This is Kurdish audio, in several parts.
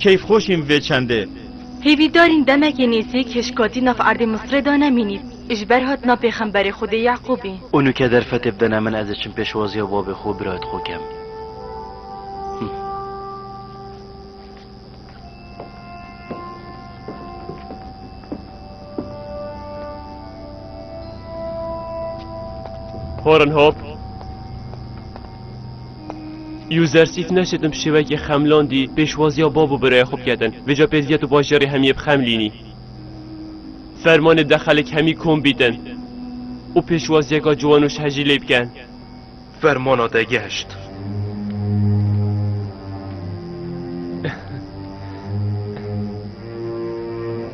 Keyf xweş im vê çendê. Hêvîdarîn demekê nêzîk hişkatî nav erdê Misrê de ne mînî, ji ber hatina pêxemberê Xwedê Yeqûbî. O nûke derfetê bidene min ez ê çim pêşwaziya babê xwe û birayê xwe kem. Horenhop. Yuzersîf neşitin bi şêwekî xemlandî pêşwaziya bav û biraya xwe biketin. Vêca pêzgîya tu bajarê hemî yê bi xemlînî. Fermanê de xelk hemî kom bîtin û pêşwaziyeka ciwan û şehcî lê bikin. Fermana de geşt.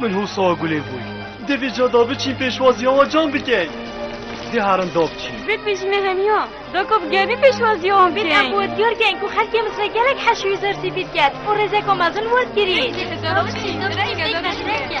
Min hûsa gulê bûy. Divê ca da biçîn pêşwaziya wan cam bikey. Dê herin da biçîn. Vê pêjimê heniya. Da ku bi germî pêşwaziya wan bikey. Vê da ku diyar keng ku xelkê min sê gelek heş û hezar sivîl ket û rêzeka mezin werdigirî. Dê tu ca da biçîn. Da biçîn ke da biçîn ke.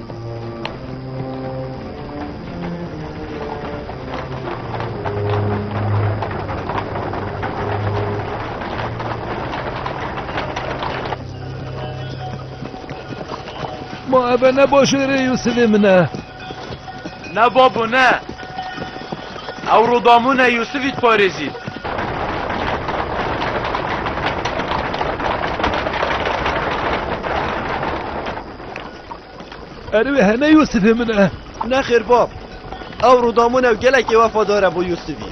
Ma ebe ne başêrê Yusufê min e. Ne babo ne. Ew rodamûne Yusufî diparêzî. Erê wê heme Yûsifê min e. Nexêr bab, ew Rûdamûn ew gelekî wefadar e bo Yûsifî.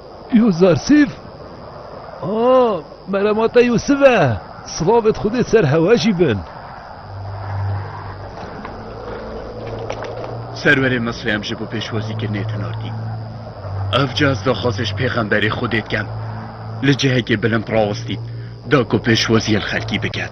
Yûzar Sif, A, meremata Yûsif e, silavên Xwedê ser hewe jî bin. Serwerê Misrê em ji bo pêşwazîkirinê tinardîn. Ev ca ez daxwazê ji pêxemberê Xwedê dikem. Li cihekê bilind rawestîn, da ku pêşwaziyê li xelkî bikin.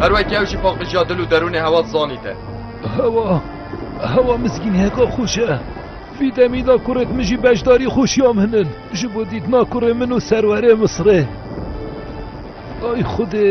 Her wekî ew jî paqijiya dil û derûnê hewa dizanîte. Hewa, hewa mizgînhêka xweş e. Vî demî de kurê min jî beşdarî xweşiya min in. Ji bo dîtina kurê min û serwerê Misirê. Ay Xwedê!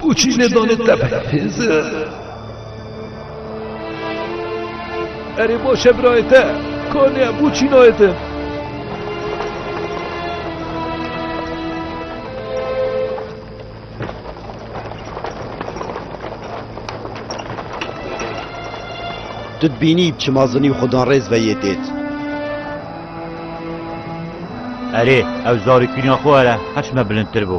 Ku çî nêzanê te bide hêzir. Erê baş e birayê te. Kanê bû çî nayê te. Tu dibînî çima zinî xudan rêz ve yê dêt. Erê ew zarî kîna xwe ere heş me bilindtir bû.